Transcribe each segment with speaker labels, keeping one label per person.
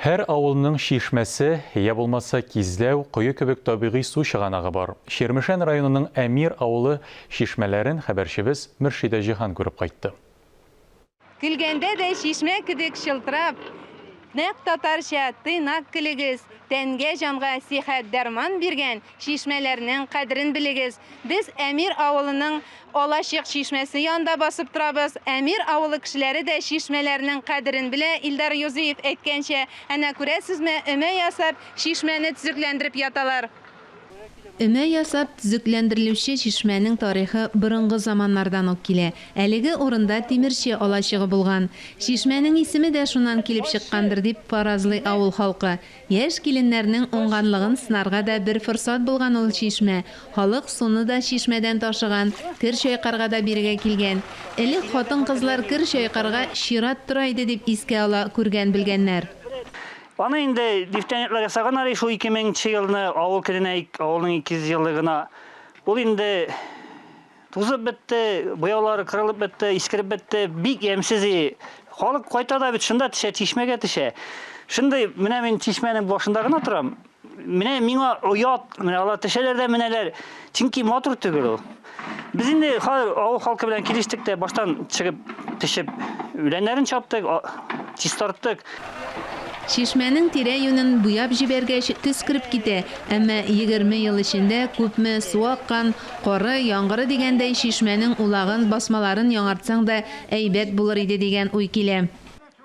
Speaker 1: Һәр авылның чишмәсе, йә булмаса кизләү, кое кебек табигый су чыганагы бар. Чирмешән районының Әмир авылы чишмәләрен хәбәрчебез Мөршидә Җиһан күреп кайтты.
Speaker 2: Көлгәндә дә чишмә кебек чылтырап, нәкъ татарча, тыйнак көлегез, тәнгә-җанга сихәт-дәрман биргән, Чишмәләрнең кадерен белегез. Без Әмир авылының Алачык чишмәсе янында басып торабыз. Әмир авылы кешеләре дә чишмәләрнең кадерен белә, Илдар Юзиев әйткәнчә, әнә күрәсезме, өмә ясап, чишмәне төзекләндереп яталар. Өмә ясап төзекләндерелүче чишмәнең тарихы борынгы заманнардан ук килә. Әлеге урында тимерче алачыгы булган. Чишмәнең исеме дә шуннан килеп чыккандыр дип фаразлый авыл халкы. Яшь киленнәрнең уңганлыгын сынарга да бер форсат булган ул чишмә. Халык суны да чишмәдән ташыган, кер чайкарга да бирегә килгән. Элек хатын-кызлар кер чайкарга чират тора иде, дип искә ала күргән-белгәннәр. Аны
Speaker 3: инде дифтәнекләр ясаган әле шул 2000 нче елны, авыл көненә авылның 200 еллыгына. Ул инде. Тузып бетте, буяулары кырылып бетте, искереп бетте. Бик ямьсез и. Халык кайта да бит шунда төшә, чишмәгә төшә. Шундый менә мин чишмәнең башында гына торам. Менә миңа оят, менә алар төшәләр дә менәләр. Чөнки матур түгел ул. Без инде хәзер авыл халкы белән килештек тә баштан чыгып, төшеп, үләннәрен чаптык, чистарттык.
Speaker 2: Чишмәнең тирә-юнен буяп җибәргәч, төс кереп китә, әмма егерме ел эчендә күпме су аккан, Коры, яңгыры дигәндәй, чишмәнең улагын, басмаларын яңартсаң да әйбәт булыр иде дигән уй килә.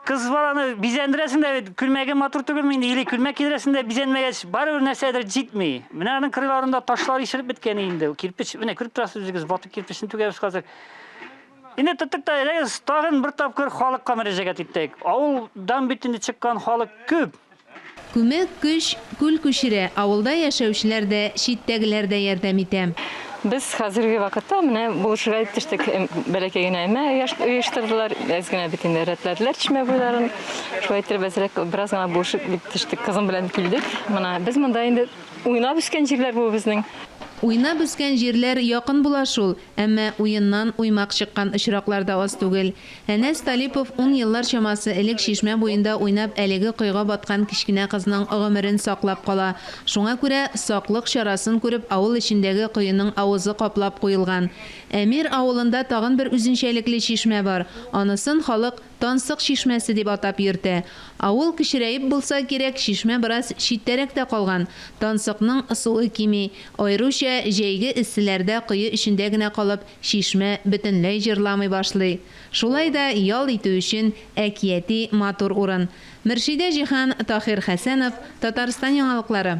Speaker 2: Кыз баланы
Speaker 3: бизәндерәсең дә бит, күлмәге матур түгелме инде, или күлмәк кидерәсең дә бизәнмәгәч, барыбер нәрсәдер җитми. Менә аның кырыйларында ташлар ишелеп беткән инде, кирпеч, менә күреп торасыз үзегез, ватык кирпечне түгәбез хәзер. Инде тоттык та, әйдәгез, тагын бер тапкыр халыкка мөрәҗәгать итик. Авылдан бит инде чыккан халык күп. Күмәк
Speaker 2: көч күл күчерә, авылда яшәүчеләр дә, читтәгеләр дә ярдәм итә. Без хәзерге
Speaker 4: вакытта менә булышырга дип төштек. Бәләкәй генә өмә оештырдылар, әз генә бит инде рәтләделәр чишмә буйларын. Шулай иттереп әзрәк бераз гына булышып дип төштек, кызым белән килдек. Менә без монда инде уйнап үскән җирләр бу безнең. Уйнап үскән
Speaker 2: җирләр якын була шул, әмма уеннан уймак чыккан очраклар да аз түгел. Әнәс Талипов ун еллар чамасы элек чишмә буенда уйнап әлеге койга баткан кечкенә кызның гомерен саклап кала. Шуңа күрә, саклык чарасын күреп, авыл эчендәге коеның авызы каплап куелган. Әмир авылында тагын бер үзенчәлекле чишмә бар. Анысын халык Тансык чишмәсе дип атап йөртә. Авыл кечерәеп булса кирәк, чишмә бераз читтәрәк тә калган. Тансыкның суы кими. Аеруча, җәйге эсселәрдә кое эчендә генә калып, Чишмә бөтенләй җырламый башлый. Шулай да ял итү өчен әкияти матур урын. Мөршидә Җиһан, Таһир Хәсәнов, Татарстан яңалыклары.